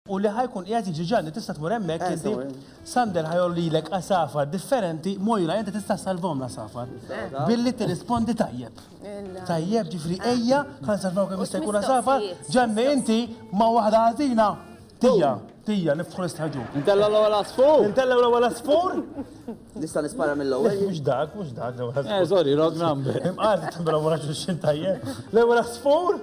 u li ħa jkun qiegħed jiġi Ġanni tista' tmur hemmhekk eh, inti Sander ħa jgħollilek għasafar differenti Mojra inti tista' salvom l-għasafar eh. billi tirrispondi tajjeb. Tajjeb ġifri eh. ejja ħa nsalvaw kemm jista' jkun għasafar Ġanni inti ma' waħda ħażina tija tija niftħu l-istħaġu. Intella l-ewwel asfur. Intella l-ewwel asfur. Nista' nispara mill-ewwel. Mhux dak, mhux dak l-ewwel asfur. Eh, sorry, wrong number. Imqas tibra wara xi tajjeb. L-ewwel asfur.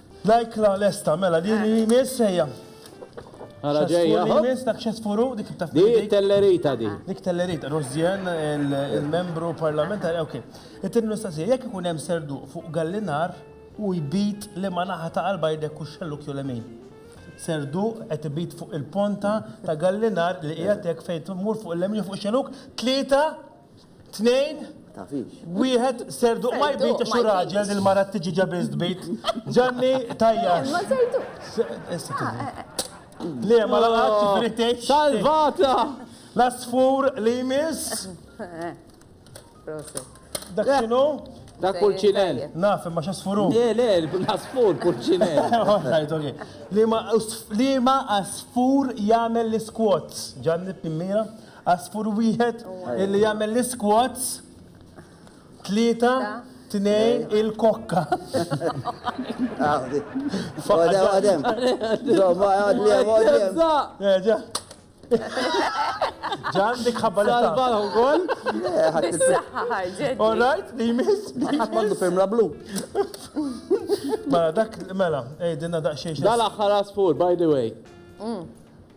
Like la lesta, mela din li jmiss ejja. Għara ġejja. Li jmiss dak xesfuru, dik taf. Di tellerita di. Dik tellerita, Rosien, il-membru parlamentari, ok. It-tin mistoqsija, jekk ikun hemm serdu fuq gallinar u jbit li ma naħa ta' qalba jdek u xelluk jew lemin. Serdu qed ibit fuq il-ponta ta' gallinar li qiegħed hekk fejn tmur fuq il-lemin fuq xelluk, tlieta Tnejn, wieħed, Serduq ma jbitx u raġel li l-mara t-tiġiġa biss tbit. Ġanni, tajjax. Imma Serduq. Le, ma laqatx, ġifieri tgħid. Salvata! L-għasfur li jmiss. Proset. Dak x'inhu? Dak pulċinell. Naf, imma x'għasfur hu? Le, le, l-għasfur pulċinell. All right, okej. Liema għasfur jagħmel l-isquats? Ġanni, b'mira. Għasfur wieħed li jagħmel l-isquats, tlieta, tnejn, il-kokka.